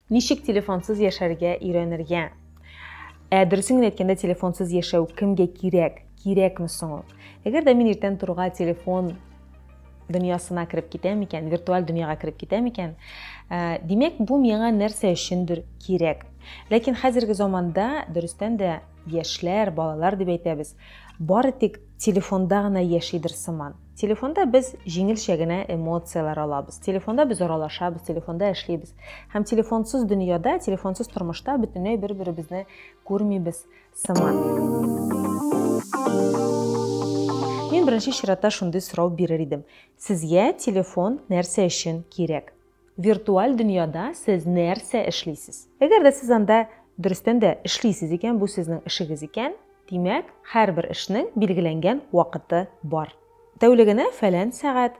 Ничек телефонсыз яшәргә өйрәнергә? Ә дөресен генә әйткәндә, телефонсыз яшәү кемгә кирәк? Кирәкме соң ул? Әгәр дә мин иртән торга телефон дөньясына кереп китәм икән, виртуаль дөньяга кереп китәм икән, ә, димәк, бу миңа нәрсә өчендер кирәк. Ләкин хәзерге заманда дөрестән дә яшьләр, балалар дип әйтәбез, бары тик телефонда гына яшидер сыман. Телефонда без җиңелчә генә эмоцияләр алабыз. Телефонда без аралашабыз, телефонда эшлибез. Һәм телефонсыз дөньяда, телефонсыз тормышта бөтенләй бер-беребезне күрмибез сыман. Мин беренче чиратта шундый сорау бирер идем. Сезгә телефон нәрсә өчен кирәк? Виртуаль дөньяда сез нәрсә эшлисез? Әгәр дә сез анда дөрестән дә эшлисез икән, бу сезнең эшегез икән, димәк, һәрбер эшнең билгеләнгән вакыты бар. Тәүлегенә фәлән сәгать,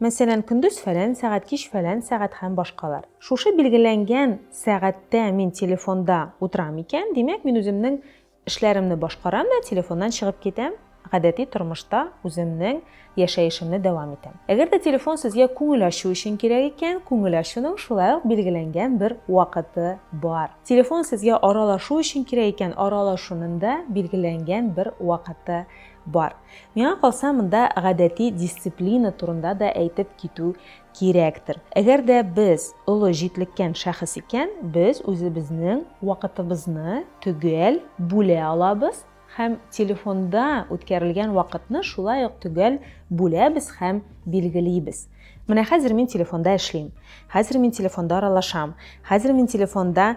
мәсәлән, көндез фәлән сәгать, кич фәлән сәгать һәм башкалар. Шушы билгеләнгән сәгатьтә мин телефонда утырам икән, димәк, мин үземнең Эшләремне башкарам да телефоннан чыгып китәм, гадәти тормышта үземнең яшәешемне дәвам итәм. Әгәр дә телефон сезгә күңел ачу өчен кирәк икән, күңел ачуның шулай ук билгеләнгән бер вакыты бар. Телефон сезгә аралашу өчен кирәк икән, аралашуның да билгеләнгән бер вакыты бар. Миңа калса, монда гадәти дисциплина турында да әйтеп китү Кирәктер. Әгәр дә без олы җитлеккән шәхес икән, без үзебезнең вакытыбызны төгәл бүлә алабыз һәм телефонда үткәрелгән вакытны шулай ук төгәл бүләбез һәм билгелибез. Менә хәзер мин телефонда эшлим, хәзер мин телефонда аралашам, хәзер мин телефонда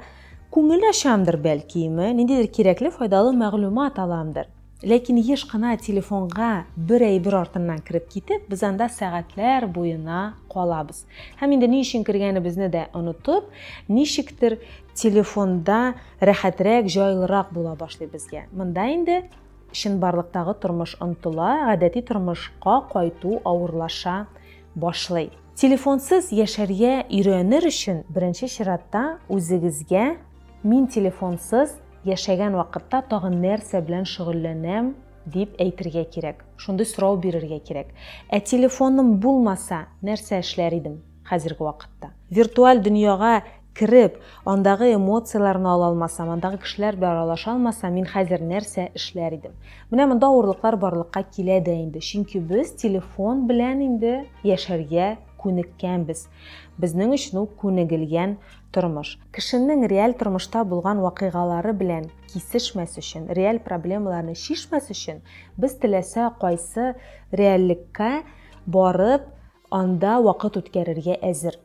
күңел ачамдыр, бәлки, ниндидер кирәкле, файдалы мәгълүмат аламдыр. Ләкин еш кына телефонга бер әйбер артыннан кереп китеп, без анда сәгатьләр буена калабыз. Һәм инде ни өчен кергәнебезне дә онытып, ничектер телефонда рәхәтрәк, җайлырак була башлый безгә. Монда инде чынбарлыктагы тормыш онтыла, гадәти тормышка кайту авырлаша башлый. Телефонсыз яшәргә өйрәнер өчен беренче чиратта үзегезгә мин телефонсыз Яшәгән вакытта тагын нәрсә белән шөгыльләнәм, дип әйтергә кирәк. Шундый сорау бирергә кирәк. Ә телефоным булмаса, нәрсә эшләр идем хәзерге вакытта? Виртуаль дөньяга кереп, андагы эмоцияләрне ала алмасам, андагы кешеләр белән аралаша алмасам, мин хәзер нәрсә эшләр идем? Менә монда авырлыклар барлыкка килә дә инде, чөнки без телефон белән инде яшәргә күнеккәнбез. Безнең өчен ул күнегелгән тормыш. Кешенең реаль тормышта булган вакыйгалары белән кисешмәс өчен, реаль проблемаларны чишмәс өчен, без теләсә кайсы реальлеккә барып, анда вакыт үткәрергә әзер.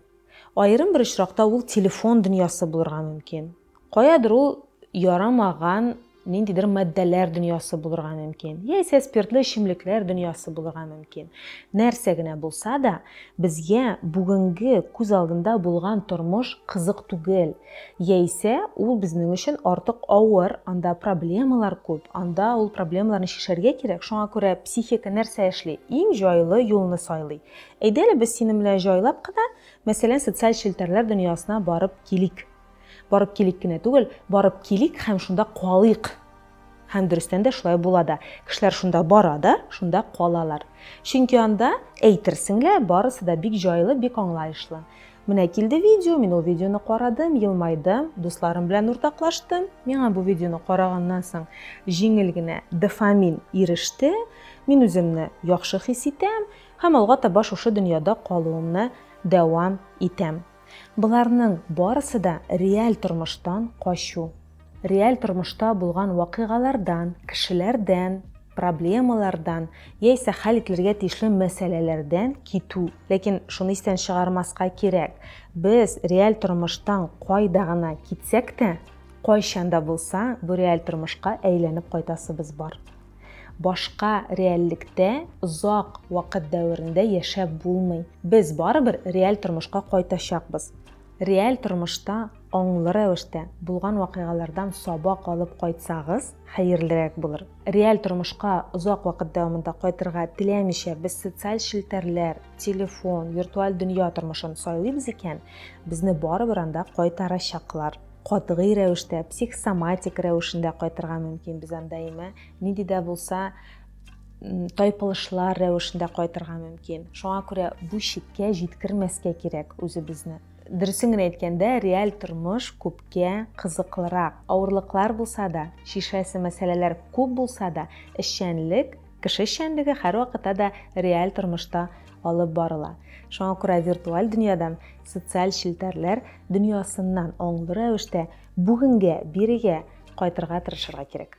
Аерым бер очракта ул телефон дөньясы булырга мөмкин. Каядыр ул ярамаган ниндидер матдәләр дөньясы булырга мөмкин, яисә спиртлы эчемлекләр дөньясы булырга мөмкин. Нәрсә генә булса да, безгә бүгенге күз алдында булган тормыш кызык түгел, яисә ул безнең өчен артык авыр, анда проблемалар күп, анда ул проблемаларны чишәргә кирәк, шуңа күрә психика нәрсә эшли? Иң җайлы юлны сайлый. Әйдә әле без синең белән җайлап кына, мәсәлән, социаль челтәрләр дөньясына барып килик. Барып килик кенә түгел, барып килик һәм шунда калыйк. Һәм дөрестән дә шулай була да. Кешеләр шунда бара да, шунда калалар. Чөнки анда, әйтерсең лә, барысы да бик җайлы, бик аңлаешлы. Менә килде видео, мин ул видеоны карадым, елмайдым, дусларым белән уртаклаштым. Миңа бу видеоны караганнан соң җиңел генә дофамин иреште. Мин үземне яхшы хис итәм һәм алга таба шушы дөньяда калуымны дәвам итәм. Боларның барысы да реаль тормыштан качу. Реаль тормышта булган вакыйгалардан, кешеләрдән, проблемалардан яисә хәл ителергә тиешле мәсьәләләрдән китү. Ләкин шуны истән чыгармаска кирәк, без реаль тормыштан кайда гына китсәк тә, кайчан да булса бу реаль тормышка әйләнеп кайтасыбыз бар. Башка реальлектә озак вакыт дәверендә яшәп булмый. Без барыбер реаль тормышка кайтачакбыз. Реаль тормышта аңлы рәвештә булган вакыйгалардан сабак алып кайтсагыз, хәерлерәк булыр. Реаль тормышка озак вакыт дәвамында кайтырга теләмичә, без социаль челтәрләр, телефон, виртуаль дөнья тормышын сайлыйбыз икән, безне барыбер анда кайтарачаклар. катгый рәвештә, психосоматик рәвешендә кайтырга мөмкин. Без анда имә нинди дә булса тайпылышлар рәвешендә кайтырга мөмкин. Шуңа күрә бу чиккә җиткермәскә кирәк үзебезне. Дөресен генә әйткәндә, реаль тормыш күпкә кызыклырак. Авырлыклар булса да, шишәсе мәсьәләләр күп булса да, эшчәнлек, кеше эшчәнлеге һәрвакытта да реаль тормышта алып барыла. Шуңа күрә виртуаль дөньядан Социаль челтәрләр дөньясыннан аңлы рәвештә бүгенгә, бирегә кайтырга тырышырга кирәк.